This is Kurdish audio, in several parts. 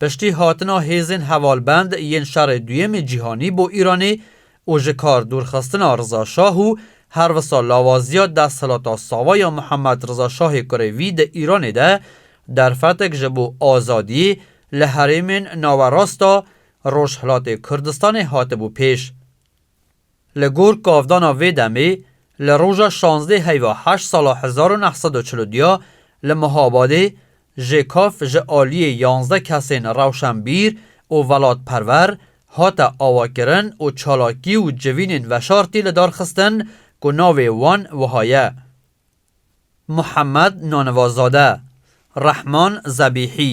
Piştî hatina hêzên hevalbend yên Şerê Duyemê Cîhanî bo Îranê û ji kar dûrxistina Riza Şah û her wisa lawaziya desthilata sava ya Mihemed Riza Şahê kurê vî di Îranê de derfetek ji bo azadiyê li herêmên nawerasta Rojhilatê Kurdistanê hatibû pêş. Li gor kavdana vê demê, li roja şazdeh heyva heşt sala hezar û neh sed û çil û duya li Mihabadê JKAF ji aliyê yanzdeh kesên rewşenbîr û welatperwer hate avakirin û çalakî û civînên veşartî li dar xistin ku navê wan wiha ye, Muhemed Nanivazade, Rehman Zebîhî,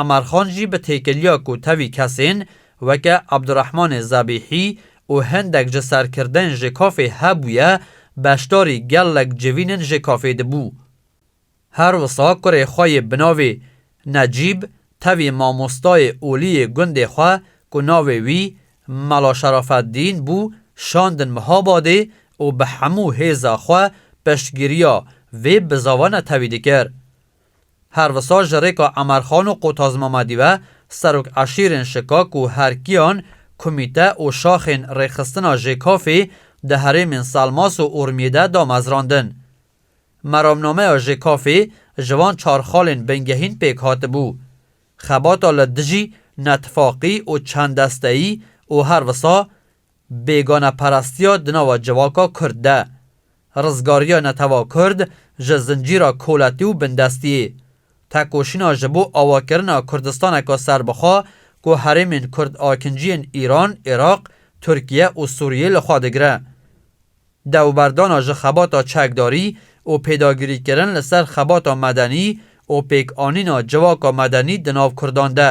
Amar Xan jî bi têkiliya ku tevî kesên weke Abdurehmanê Zebîhî û hindek ji serkirdên JKAF'ê hebûye, beşdarî gelek civînên JKAF'ê dibû. Her wisa kurê xwe yê binavê Necîb tevî mamostayê olî yê gundê xwe ku navê wî Mela Şerafeddîn bû şandin Mihabadê û bi hemû hêza xwe piştgiriya vê bizavane tevî dikir. Her wisa ji rêka Emerxan û Qotaz Mamedî ve serok eşîrên Şikak û Herkiyan, Kumîte û şaxên Rêxistina Jêkafî di herêmên Selmas û Urmiyê de damezrandin. Meramnameya Jêkafî ji van çar xalên bingehîn pêk hatibû. Xebata li dijî netifaqî û çend desteyî û her wisa Bêganeparastiya di nava civaka Kurd de, rizgariya netewa Kurd ji zincîra koletî û bindestiyê, tekoşîna ji bo awakirina Kurdistaneka serbixwe ku herêmên Kurd-Akinciyên Îran, Iraq, Tirkiye û Sûriyê li xwe digire, dewberdana ji xebata çekdarî û pêdagirîkirin li ser xebata medenî û pêkanîna civaka medenî di nav Kurdan de.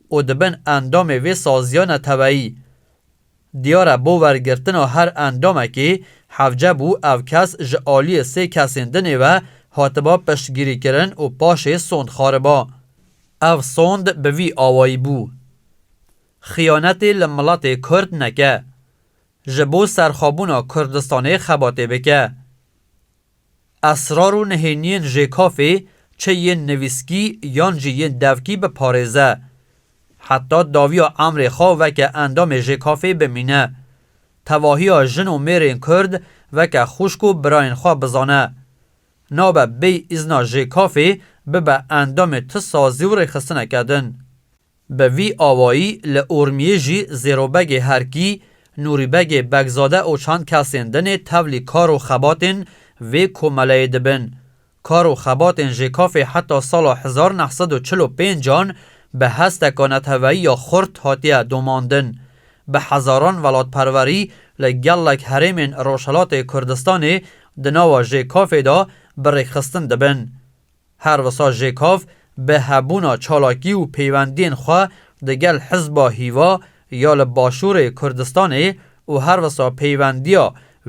û dibin endamê vê saziya neteweyî. Diyar e bo wergirtina her endamekê hevce bû ev kes ji aliyê sê kesên dinê ve hatiba piştgirîkirin û paşê sond xariba. Ev sond bi vî awayî bû. Xiyanetê li miletê kurd neke. Ji bo serxwebûna Kurdistanê xebatê bike. Esrar û nehêniyên jêkafê çi yên nivîskî yan jî yên devkî biparêze. Heta dawiya emrê xwe weke endamê jêkafê bimîne. Tevahiya jin û mêrên Kurd weke xwişk û birayên xwe bizane. Nabe bêy îzna jêkafê bibe endamê ti sazî û rêxistineke din. Bi vî awayî li Urmiyê jî Zêrobegê Herkî, Nûrîbegê Begzade û çand kesên din ê tevlî kar û xebatên vê komeleyê dibin. Kar û xebatên JKAF'ê heta sala hezar û neh sed û çil û pênc an bi hesteka neteweyî ya xurt hatiye domandin. Bi hezaran welatperwerî li gelek herêmên Rojhilatê Kurdistanê di nava JKAF'ê de bi rêkxistin dibin. Her wisa JKAV bi hebûna çalakî û peywendiyên xwe di gel Hizba Hîva ya li Başûrê Kurdistanê û her wisa peywendiya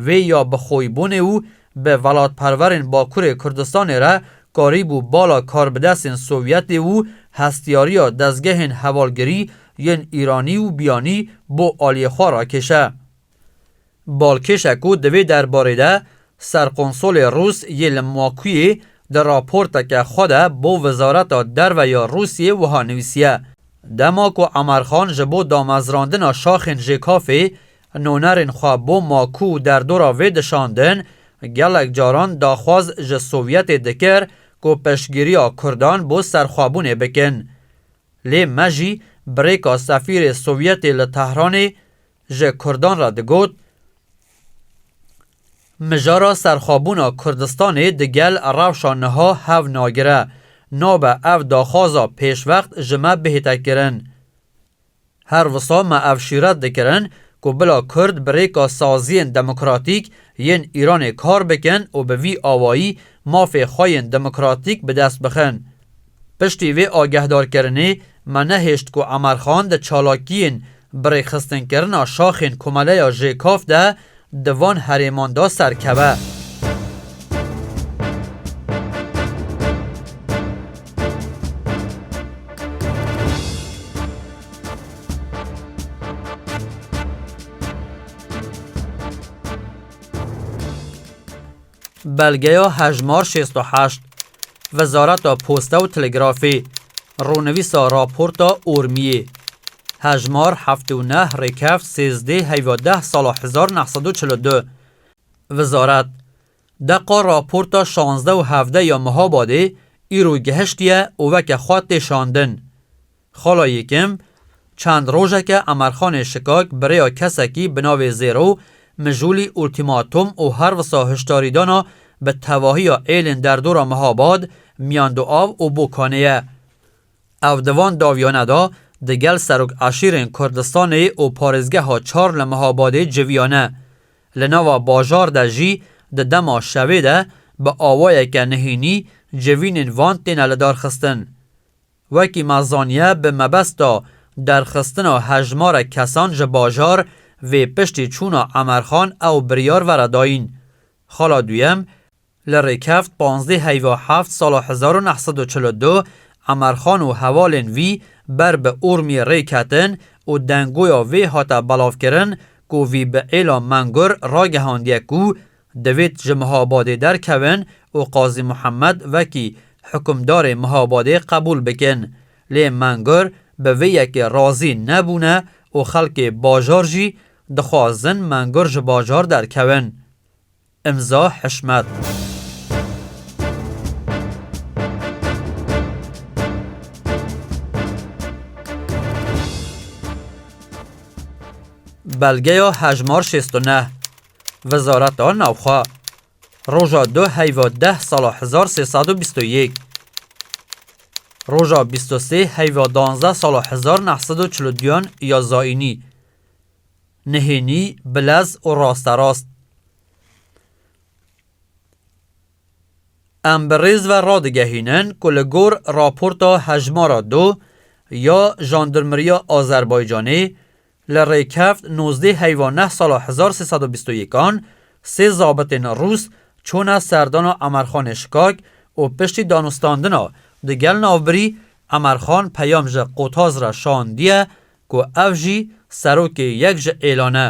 wê ya bi xoybûnê û bi welatperwerên Bakurê Kurdistanê re karîbû bala karbidesên Sovyetê û hestiyariya dezgehên hevalgirî yên Îranî û Biyanî bo aliyê xwe rakêşe. Balkêşa ku di vê derbarê de Serkonsolê Rûs yê li Makuyê di raporteke xwe de bo Wizareta Derve ya Rûsyê wiha nivîsiye, Dema ku Emerxan ji bo damezrandina şaxên JKF'ê nonerên xwe bo Maku û derdora vê dişandin, gelek caran daxwaz ji Sovyetê dikir ku piştgiriya Kurdan bo serxwebûnê bikin. Lê me jî birêka sefîrê Sovyetê li Tehranê Ji Kurdan re digot, Mijara serxwebûna Kurdistanê di gel rewşa niha hev nagire, nabe ev daxwaza pêşvext ji me bihête kirin. Her wisa me ev şîret dikirin ku bila Kurd bi rêka saziyên demokratîk yên Îranê kar bikin û bi vî awayî mafê xwe yên demokratîk bi dest bixin. Piştî vê agehdarkirinê me nehêşt ku Emerxan di çalakiyên bi rêxistinkirina şaxên Komeleya JKAF de di van herêman de serkeve. Belgeya hejmar şêst û heşt Wezareta Posta û Telegrafê, Rûnivîsa Raporta Urmiyê, Hejmar heftê û neh Rêkeft sêzdê heyva deh sala hezar û neh sed û çil û du Wezaret, Deqa raporta şazdeh û hevdeh ya Mihabadê îro gihiştiye û weke xwe tê şandin. Xala Yêkim, Çend rojeke Emerxanê Şikak bi rêya kesekî bi navê Zêro, Mijûlî, Ultîmatom û her wisa hişdarîdana bi tevahiya êlên derdora Mihabad, Miyanduav û Bokanê ye. Ev di van dawiyane de di gel serok eşîrên Kurdistanê û parêzgeha çar li Mihabadê civiyane. Li nava bajar de jî di dema şevê de bi awayeke nihînî civînên van têne lidarxistin. Wekî me zaniye bi mebesta derxistina hejmarek kesan ji bajar vê piştî çûna Emerxan ew biryar vera dayîn. Xala duyem li rêkeft panzdeh heyva heft sala hezar û neh sed û çil û du Emerxan û hevalên wî ber bi Urmiyê rê ketin û dengoya vê hate belavkirin ku vî bi êla Mengur ragihandiye ku Divêt ji Mihabadê derkevin û Qazî Muhemed vekî hukimdarê Mihabadê qebûl bikin. Lê Mengûr bi vê yekê razî nebûne û xelkê bajar jî dixwazin Mengûr ji bajar derkevin. Îmza Hişmet. Belgeya hejmar şêst û neh. Wezareta Navxwe roja du heyva deh sala hezar sê sed û bîst û yek, roja bîst û sê heyva danzdeh sala hezar neh sed û çil û duyan ya Zaînî, nihênî, bilez û rasterast. Em bi rêz ve radigehînin ku li gor raporta hejmara du ya Jandarmeriya Azerbaycanê, Li Rêkeft nozdeh heyva neh sala hezar sê sed û bîst û yekan sê zabitên rûs çûne serdana Emerxanê Şikak û piştî danûstandina di gel navbirî Emerxan peyam ji Qotaz re şandiye ku ev jî serokê yek ji êlan e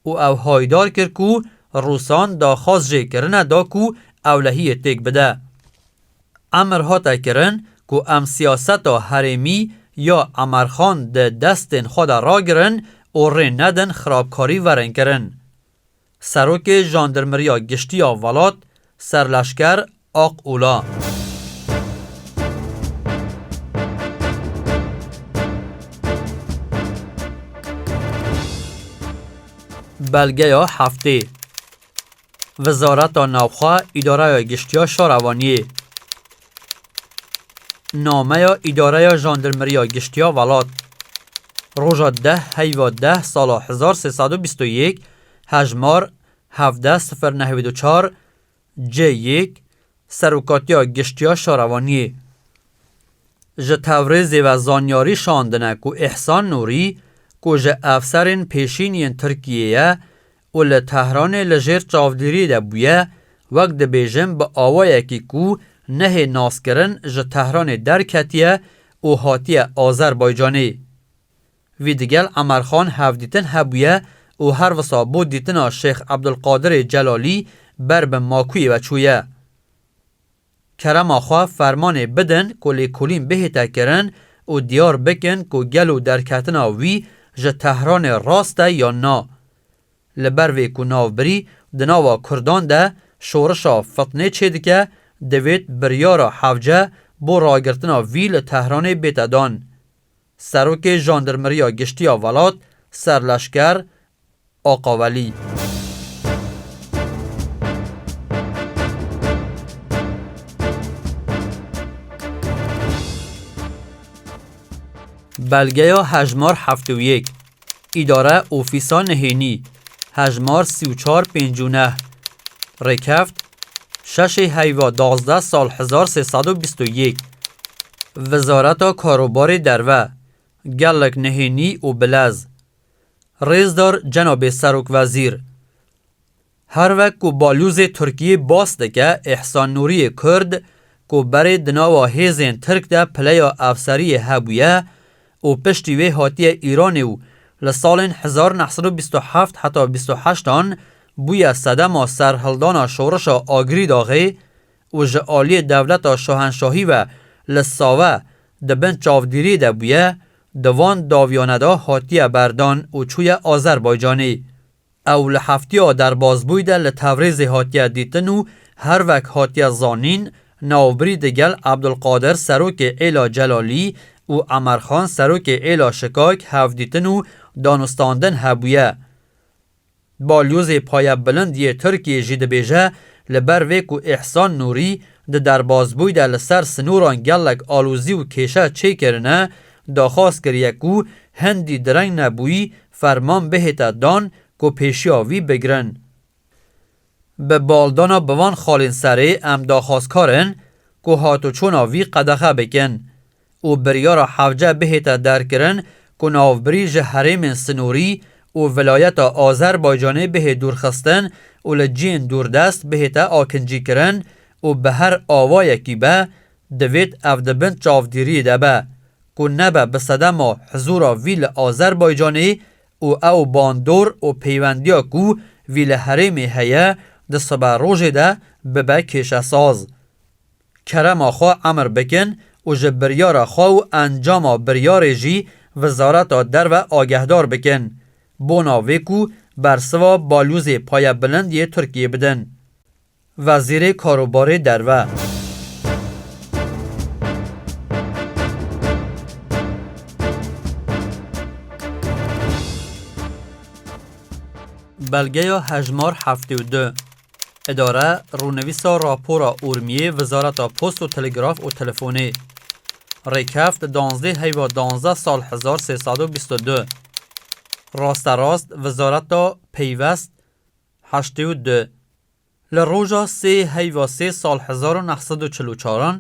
û ew haydar kir ku rûsan daxwaz jê kirine da ku ewlehiyê têk bide. Emir hate kirin ku em siyaseta herêmî ya Emer Xan di destên xwe de ragirin û rê nedin xirabkarî werin kirin. Serokê Jandirmeriya Giştî ya welat, Serleşker Aq Ula. Belgeya heftê. Wizareta Navxwe Îdareya Giştî ya Şara Waniyê Nameya Îdareya Jandirmeriya Giştî ya Welat Roja deh heyva deh sala hezar sê sed û bîst û yek hejmar hevdeh sifir neh wî du çar C yek Serokatiya Giştî ya Şara Waniyê ji Tewrêzê ve zanyarî şandine ku Îhsan Nûrî ku ji efserên pêşîn yên Tirkiyê ye û li Tehranê li jêr çavdêriyê de bûye, wek dibêjin bi awayekî ku nehê naskirin ji Tehranê derketiye û hatiye Azerbaycanê. Vî digel Emerxan hevdîtin hebûye û her wisa bo dîtina Şêx Ebdulqadirê Celalî ber bi makûyê ve çûye. Kerema xwe fermanê bidin ku lêkolîn bihête kirin û diyar bikin ku gelo derketina wî ji Tehranê rast e yan na. Li ber vê ku navbirî di nava Kurdan de şorişa fitnê çêdike, divêt biryara hevce bo ragirtina vî li Tehranê bête dan. Serokê Jandarmeriya Giştî ya Welat, Serleşker Aqa Welî. Belgeya hejmar heft û yek, Îdare Ofîsa Nehênî, hejmar sî û çar pênc û neh, Rêkeft, şeşê heyva dazdeh sal hezar sê sed û bîst û yek, Wezareta Karobarê Derve, gelek nehênî û bilez. Rêzdar Cenabê Serokwezîr, Her wek ku balyozê Tirkiyê bas dike Îhsan Nûriyê Kurd ku berê di nava hêzên Tirk de pileya efseriyê hebûye û piştî wê hatiye Îranê û li salên hezar neh sed û bîst û heft heta bîst û heşt an bûye sedema serhildana şorişa Agirî daxê û ji aliyê dewleta şahenşahî ve li Save di bin çavdîriyê de bûye, di van dawiyanê de hatiye berdan û çûye Azerbaycanê. Ew li heftiya derbazbûyî de li Tevrizê hatiye dîtin û her wek hatiye zanîn navbirî di gel Ebdulqadir serokê êla Celalî û Emerxan serokê êla Şikak hevdîtin û danûstandin hebûye. Balyozê Paya Bilind yê Tirkiyê jî dibêje li ber vê ku Îhsan Nûrî di derbasbûyî de li ser sinûran gelek alozî û kêşe çê kirine, daxwaz kiriye ku hindî direng nebûyî ferman bihête dan ku pêşiya wî bigirin. Bi baldana bi van xalên serê em daxwazkar in ku hatoçûna vî qedexe bikin û biryara hevce bihête derkirin ku navbirî ji herêmên sinûrî û vilayeta Azerbaycanê bihê dûrxistin û li ciyên dûrdest bihête akincîkirin û bi her awayekî be divêt ev di bin çavdîriyê de be ku nebe bi sedema hizûra vî li Azerbaycanê û ew bandor û peywendiya ku vî li herêmê heye di sibe rojê de bibe kêşesaz. Kerema xwe emr bikin û ji biryara xwe û encama biryarê jî Wizareta Derve agehdar bikin, bona vê ku bersiva balûzê payebilind yê Tirkiyê bidin. Wezîrê Karobarê Derve. Belgeya hejmar heftê û du. Îdare, Rûnivîsa Rapora Urmiyê Wizareta Post û Telegraf û Telefonê. Rêkeft danzdeh heyva danzdeh sal hezar sê sed û bîst û du. Rasterast Wizareta Peyvest. Heştê û du. Li roja sê heyva sê sal hezar û neh sed û çil û çar an,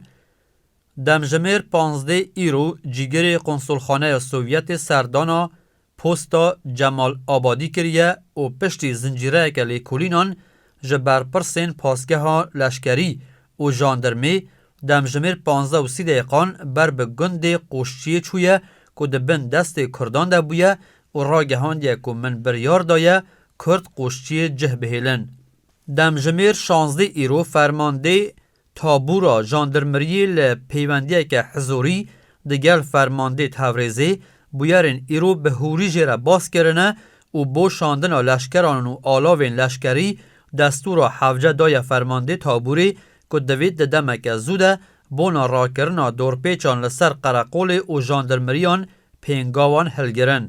demjimêr panzdê îro cîgirê Konsolxaneya Sovyetê serdana Posta Cemal Abadî kiriye û piştî zincîreyeke lêkolînan ji berpirsên pasgeha leşkerî û jandirmê demjimêr panzdeh û sî deqan ber bi gundê Qoşçiyê çûye ku di bin destê Kurdan de bûye û ragihandiye ku min biryar daye Kurd qoşçiyê cih bihêlin. Demjimêr şazdeh îro fermandeyê tabûra jandirmiriyê li peywendiyeke hizorî di gel fermandê Tevrêzê bûyerên îro bi hûrî jê re bas kirine û bo şandina leşkeran û alavên leşkerî destûra hevce daye fermandê tabûrê ku divêt di demeke zû de bona rakirina dorpêçan li ser qereqolê û jandirmiriyan pêngawan hilgirin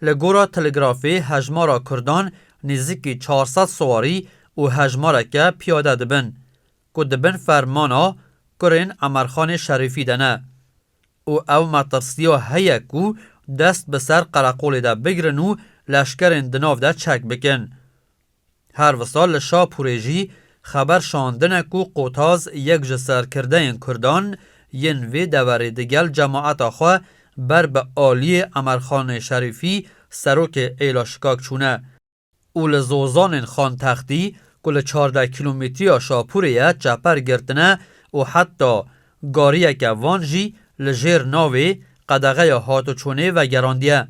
Li gora Telegrafê hejmara Kurdan nêzîkî çar sed siwarî û hejmareke piyade dibin ku di bin fermana kurên Emerxanê Şerîfî de ne û ew metirsiya heye ku dest bi ser qereqolê de bigirin û leşkerên di nav de çek bikin Her wisa li Şapûrê jî xeber şandine ku Qotaz yek ji serkirdeyên Kurdan yên vê deverê digel cemaeta xwe ber bi aliyê Emerxanê Şerîfî serokê Êla Şikak çûne û li Zozanên Xantextî ku li çardeh kîlometriya Şapûrê ye çeper girtine û heta gariyeke van jî li jêr navê qedexeya hatoçûnê vegerandiye.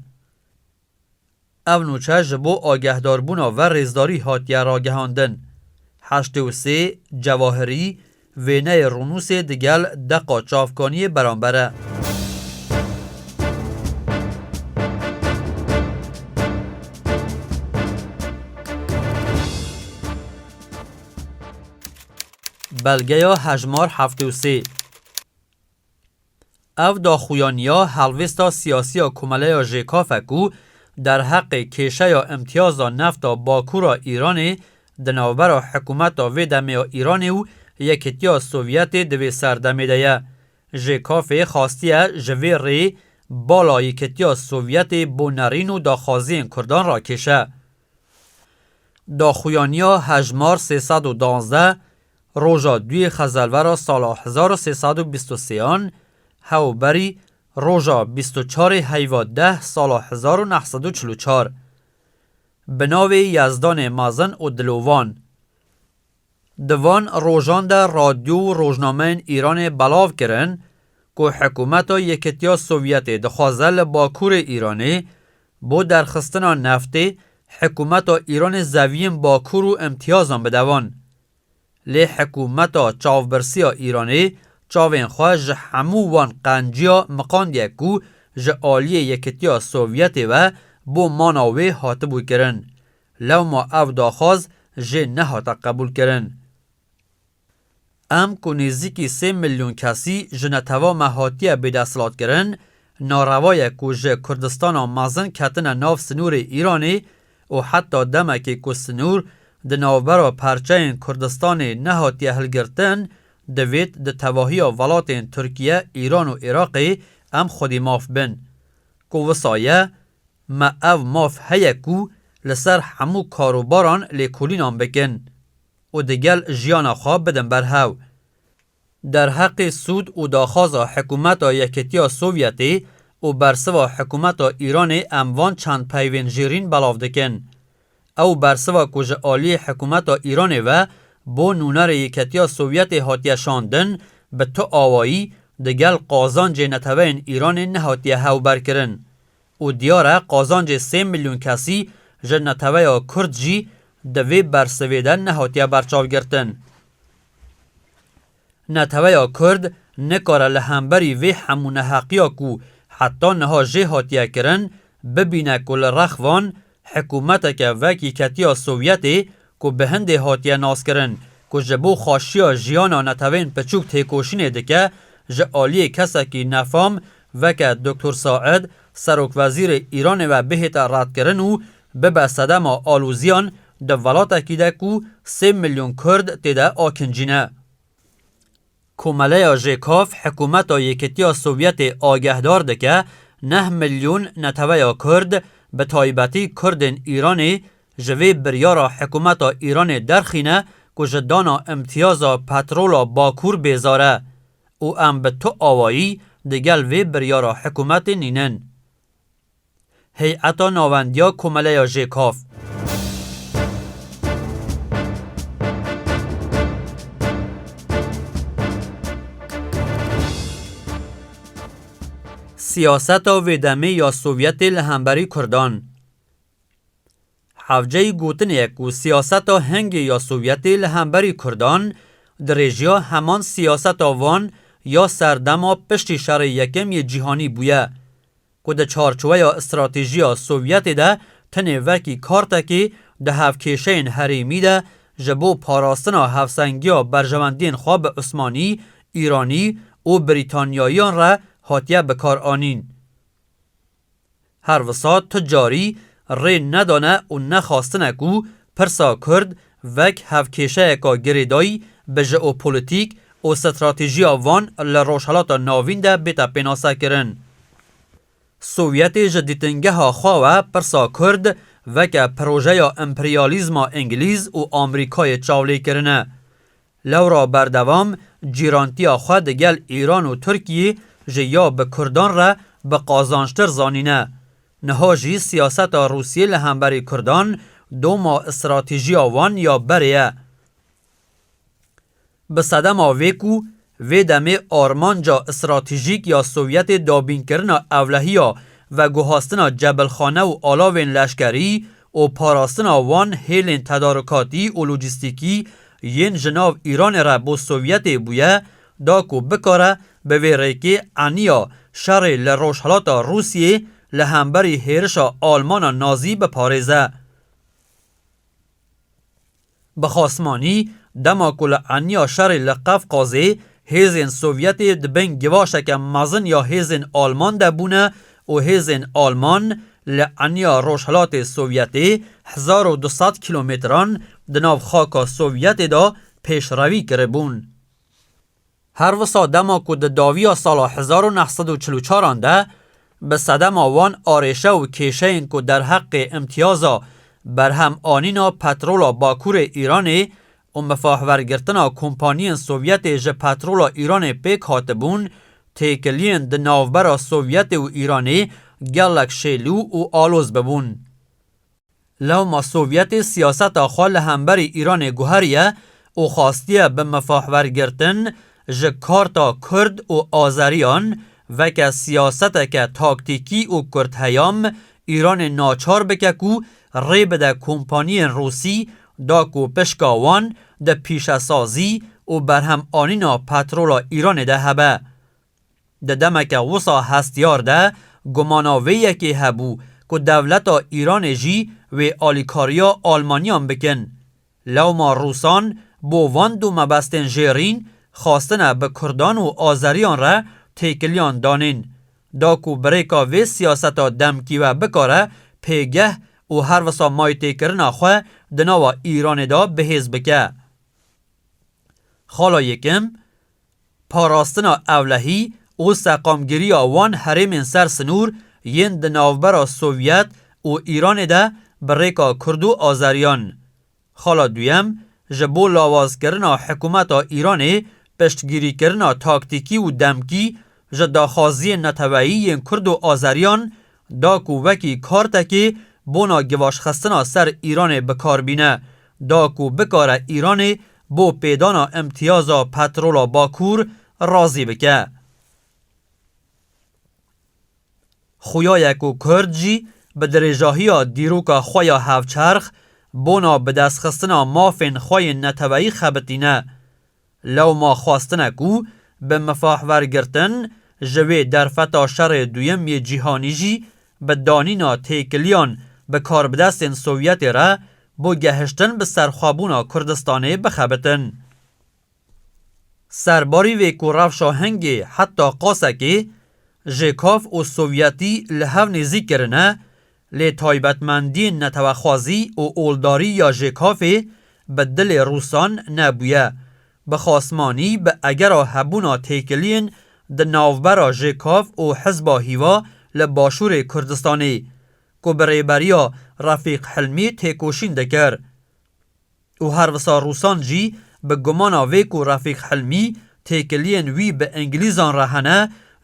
Ev nûçe ji bo agehdarbûna ver rêzdarî hatiye ragihandin. Heştê û sê Cewahirî wêneyê rûnûsê digel deqa çavkaniyê beramber e. Belgeya hejmar heftê û sê. Ev daxuyaniya helvêsta siyasiya Komeleya JKF e ku derheqê kêşeya îmtiyaza nefta Bakûra Îranê di navbera hikûmeta vê demê ya Îranê û Yekîtiya Sovyetê di vê serdemê de ye. JKF'ê xastiye ji vê rê bala Yekîtiya Sovyetê bo nerîn û daxwaziyên kurdan rakêşe. Daxuyaniya hejmar sê sed û duwazdeh Roja duyê xezelvera sala hezar û sê sed û bîst û sê an hewberî roja bîst û çarê heyva deh sala hezar û neh sed û çil û çar bi navê Yezdanê Mezin û Dilovan di van rojan de radyo û rojnameyên Îranê belav kirin ku hikûmeta Yekitiya Sovyetê dixwaze li Bakurê Îranê bo derxistina neftê hikûmeta Îranê zeviyên Bakur û îmtiyazan bide van Lê hikûmeta çavbirsiya Îranê çavên xwe ji hemû wan qenciya miqandiye ku ji aliyê Yekitiya Sovyetê ve bo mana wê hatibû kirin. Lewma ev daxwaz jê nehate qebûlkirin. Em ku nêzîkî sê milyon kesî ji netew'a me hatiye bêdesthilatkirin, narewa ye ku ji Kurdistana mezin ketine nav sinûrê Îranê û heta demekê ku sinûr di navbera parçeyên Kurdistanê nehatiye hilgirtin, divêt di tevahiya welatên Tirkiye, Îran û Iraqê em xwedî maf bin. Ku wisa ye, me ev maf heye ku li ser hemû karûbaran lêkolînan bikin û di gel jiyana xwe bidin berhev. Derheqê sûd û daxwaza Hikûmeta Yekîtiya Sovyetê û bersiva Hikûmeta Îranê em van çend peyvên jêrîn belav dikin. Ew bersiva ku ji aliyê Hikûmeta Îranê ve bo nûnerê Yekîtiya Sovyetê hatiye şandin bi tu awayî digel qazancê neteweyên Îranê nehatiye hewberkirin û diyar e qazancê sê milyon kesî ji neteweya Kurd jî di vê bersivê de nehatiye berçavgirtin. Neteweya Kurd nikare li hemberî vê hemû neheqiya ku heta niha jê hatiye kirin, bibîne ku li rex van hikûmeteke vekî ketiya Sovyetê ku bi hindê hatiye naskirin ku ji bo xaşiya jiyana netewên piçûk têkoşînê dike ji aliyê kesekî nefam veke Doktor Said, Serokwezîrê Îranê ve bihête redkirin û Bibe sedema alozîyan di welatekî de ku sê milyon Kurd tê de akincîne. Komeleya JKAF hikûmeta Yekîtiya Sovyetê agehdar dike neh milyon neteweya Kurd bi taybetî Kurdên Îranê ji vê biryara hikûmeta Îranê derxîne ku ji dana îmtîyaza petrola Bakur bêzar e û em bi tu awayî digel vê biryara hikûmetê nînin. Heyeta Nawendiya Komeleya JKAF. Siyaseta vê demê ya Sovyetê li hemberî Kurdan. Hevceyî gotinê ye ku siyaseta hingê ya Sovyetê li hemberî Kurdan dirêjiya heman siyaseta van ya serdema piştî Şerê Yekem yê Cîhanî bûye. ku di çarçoweya stratejîya Sovyetê de tenê wekî kartekî di hevkêşeyên herêmî de ji bo parastina hevsengiya berjewendiyên xwe bi Osmanî, Îranî û Brîtanyayiyan re hatiye bikaranîn. Her wisa tu carî rê nedane û nexwastine ku pirsa kurd Vek hev kêşeyeka girêdayî bi jeopolîtîk û stratejîya van li Rojhilata Navîn de bête pênasekirin. Sovyetê ji dîtingeha xwe we pirsa kurd veke projeya emperyalîzma îngilîz û Amrîkayê çavlêkirine. Lewra berdewam cîrantiya xwe di gel Îran û Tirkiyê ji ya bi Kurdan re bi qazançtir zanîne. Niha jî siyaseta Rûsiyê li hemberî Kurdan doma stratîjiya wan ya berê ye. Bi sedema vê ku vê demê armanca stratîjîk ya Sovyetê dabînkirina ewlehiya veguhastina cebilxane û alavên leşkerî û parastina wan hêlên tedarikatî û lojîstîkî yên ji nav Îranê re bo Sovyetê bûye da ku bikare bi vê rêkê eniya şerê li Rojhilata Rûsyê li hemberî hêrişa Almana Nazî biparêze. Bi xasmanî dema ku li eniya şerê li Qefqazê Hêzên Sovyetê di bin givaşeke mezin ya hêzên Alman de bûne û hêzên Alman li eniya Rojhilatê Sovyetê hezar û du sed kîlometran di nav xaka Sovyetê de pêşrevî kiribûn. Her wisa dema ku di dawiya sala hezar û neh sed û çil û çar an de bi sedema wan arêşe û kêşeyên ku derheqê îmtîyaza berhemanîna petrola Bakurê Îranê û mifahwergirtina kompaniyên Sovyetê ji petrola Îranê pêk hatibûn, têkiliyên di navbera Sovyetê û Îranê gelek şêlû û aloz bibûn. Lewma Sovyetê siyaseta xwe li hemberî Îranê guheriye û xwastiye bi mifahwergirtin ji karta Kurd û Azeriyan veke siyaseteke taktîkî û kurtheyam Îranê naçar bike ku rê bide kompaniyên Rûsî da ku pişka wan di pîşesazî û berhemanîna petrola Îranê de hebe. Di demeke wisa hestiyar de gumana vê yekê hebû ku dewleta Îranê jî wê alîkariya Almanyan bikin. Lewma Rûsan bo van du mebestên jêrîn xwastine bi Kurdan û Azeriyan re têkiliyan danên. da ku birêka vê siyaseta demkî we bikare pêgeh û her wisa maytêkirina xwe di nava Îranê de bihêz bike. Xala yekim, Parastina ewlehî û seqamgiriya wan herêmên ser sinûr yên di navbera Sovyet û Îranê de bi rêka Kurd û Azeriyan, Xala duyem, ji bo lawazkirina hikûmeta Îranê piştgirîkirina taktîkî û demkî ji daxwaziyên neteweyî yên kurd û azeriyan da ku wekî kartekê bona givaşxistina ser Îranê bikar bîne da ku bikare Îranê bo pêdana îmtiyaza petrola Bakur razî bike. Xuya ye ku Kurd jî bi dirêjahiya dîroka xwe ya hevçerx bona bidestxistina mafên xwe yên neteweyî xebitîne. Lewma xwestine ku bi mifahwergirtin ji wê derfeta Şerê Duyem yê Cîhanî jî bi danîna têkiliyan bi karbidestên Sovyetê re bo gehiştin bi serxwebûna Kurdistanê bixebitin. Serbarî vê ku rewşa hingê heta qasekê ji kav û sovyetî li hev nêzîk kirine, lê taybetmendiyên netewexwazî û oldarî ya ji kavê bi dilê rûsan nebûye. Bi xasmanî bi egera hebûna têkiliyên di navbera ji kav û hizba hîva li başûrê Kurdistanê, ku bi rêberiya Refîq Hilmî têkoşîn dikir, û her wisa rûsan jî bi gumana vê ku Refîq Hilmî têkiliyên wî bi îngilîzan re hene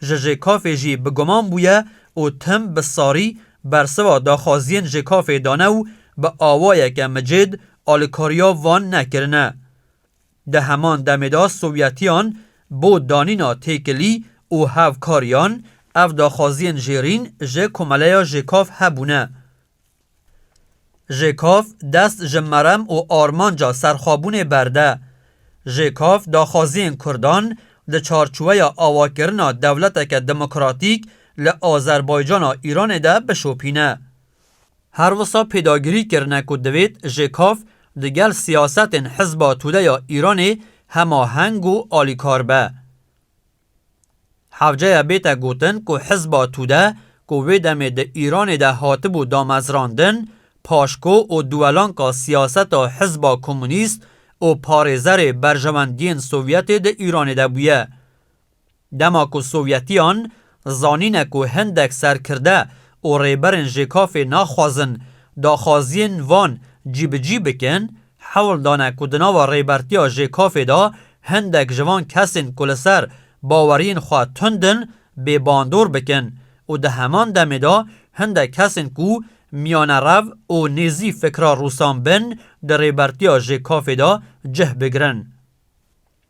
ji JKF'ê jî bi guman bûye û tim bi sarî bersiva daxwaziyên JKF'ê dane û bi awayeke micêd alikariya van nekirine. Di heman demê de Sovyetiyan bo danîna têkilî û hevkariyan ev daxwaziyên jêrîn ji komeleya JKF hebûne. Ji kav dest ji merem û armanca serxwebûnê berde. Ji kav daxwaziyên kurdan di çarçoweya awakirina dewleteke demokratîk li Azerbaycana Îranê de bişopîne. Her wisa pêdagirî kirine ku divêt ji kav di gel siyasetên Hizba Tude ya Îranê hemaheng û alîkar be. Hewceya bête gotin ku hizba Tude ku wê demê di Îranê de hatibû damezrandin, paşko û duwelanka siyaseta hizba komûnîst û parêzerê berjewendiyên Sovyetê di Îranê de bûye. Dema ku Sovyetiyan zanîne ku hindek serkirde û rêberên JKF'ê naxwazin daxwaziyên van cîbicî bikin, Hewl dane ku di nava rêbertiya JKOF'ê de hindek ji van kesên ku li ser baweriyên xwe tund in bê bandor bikin û di heman demê de hindek kesên ku miyanerev û nêzî fikra Rûsan bin di rêbertiya JKOF'ê de cih bigirin.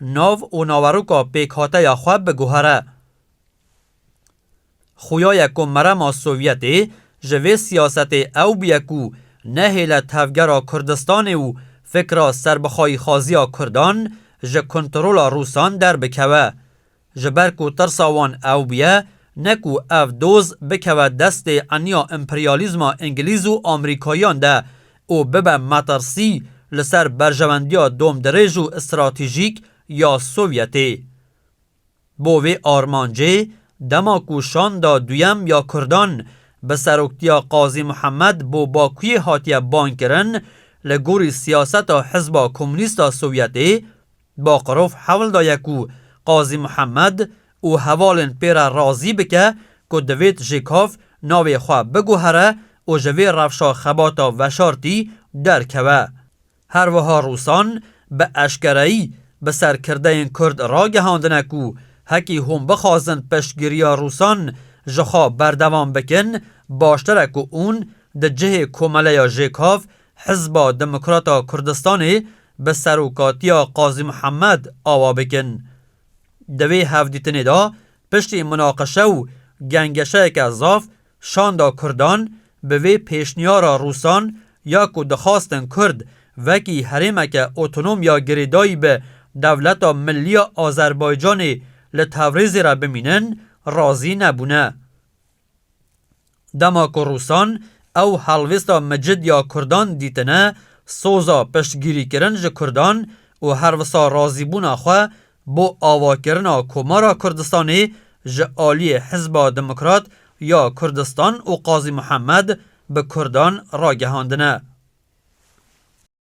Nav û naweroka pêkhateya xwe biguhere. Xuya ye ku merema Sovyetê ji vê siyasetê ew bûye ku nehêle tevgera Kurdistanê û fikra serbixwayîxwaziya Kurdan ji kontrola Rûsan derbikeve. Ji ber ku tirsa wan ew bûye, ne ku ev doz bikeve destê eniya emperyalîzma îngilîz û amerîkayiyan de û bibe metirsî li ser berjewendiya domdirêj û stratejîk ya Sovyetê. Bo vê armancê, dema ku şanda duyem ya Kurdan bi seroktiya Qazî Muhemed bo Bakuyê hatiye bankirin, li gorî siyaseta Hizba Komûnîst a Sovyetê, Baqirov hewl daye ku Qazî Mihemed û hevalên pê re razî bike ku divêt JKAV navê xwe biguhere û ji vê rewşa xebata veşartî derkeve. Her wiha Rûsan bi eşkereyî bi ser kirdeyên Kurd ragihandine ku hekî hûn bixwazin piştgiriya Rûsan ji xwe berdewam bikin, baştir e ku ûn di cihê komeleya JKAV Hizba Demokrata Kurdistanê bi serokatiya Qazî Mihemed awa bikin. Di vê hevdîtinê de piştî munaqeşe û gengeşeyeke zaf şanda Kurdan bi vê pêşniyara Rûsan ya ku dixwastin Kurd wekî herêmeke otonom ya girêdayî bi dewleta millî ya Azerbaycanê li Tewrêzê re bimînin razî nebûne. Dema ku Rûsan ew helwêsta micid ya Kurdan dîtine, soza piştgirîkirin ji Kurdan û her wisa razîbûna xwe bo avakirina Komara Kurdistanê ji aliyê Hizba Demokrat ya Kurdistan û Qazî Muhemed bi Kurdan ragihandine.